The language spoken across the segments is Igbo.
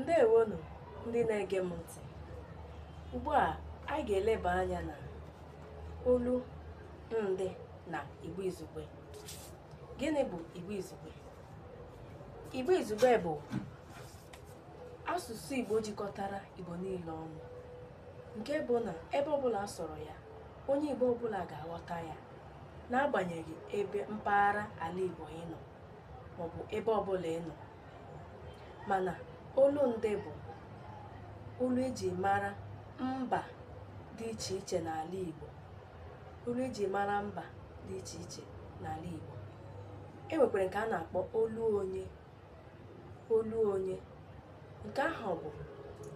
ndewonụ ndị na-ege m ntị ugbu a anyị ga-eleba anya na olu ndị na igbo izugbe gịnị bụ igbo izugbe igbo izugbe bụ asụsụ igbo jikọtara igbo niile ọnụ nke bụ na ebe ọbụla a sụrụ ya onye igbo ọbụla ga-aghọta ya n'agbanyeghị ebe mpaghara ala igbo ị nọ maọbụ ebe ọbụla ị nọ mana olu ndị bụ olu eji mara mba dị iche iche n'ala Igbo olu eji mara mba dị iche iche n'ala Igbo e nwekwara nke a na-akpọ olu onye olu onye nke ahụ bụ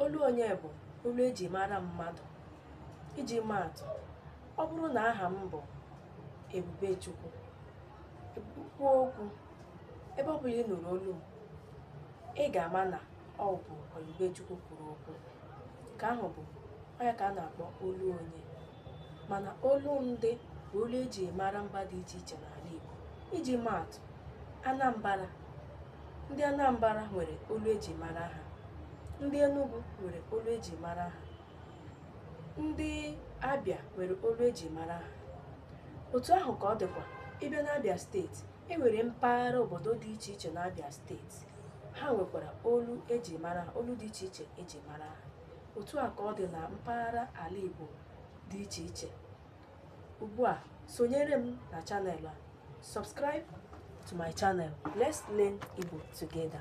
olu onye bụ olu eji mara mmadụ iji maa atụ ọ bụrụ na aha m bụ Ebubechukwu kwuo okwu ebe ọ bụla ị nụrụ olu m, ị ga-ama na ọ bụ Ebubechukwu kwuru okwu nke ahụ bụ ọ ya ka a na-akpọ olu onye mana olu ndị bụ olu eji mara mba dị iche iche n'ala Igbo iji maa atụ Anambra ndị Anambra nwere olu eji mara ha ndị Enugu nwere olu eji mara ha ndị Abịa nwere olu eji mara ha otu ahụ ka ọ dịkwa ị bịa n'Abịa steeti e nwere mpaghara obodo dị iche iche n'Abịa steeti ha nwekwara olu eji mara ha olu dị iche iche eji mara ha otu ahụ ka ọ dị na mpaghara ala Igbo dị iche iche ugbu a sonyere m na channel a subscribe to my channel let's learn Igbo together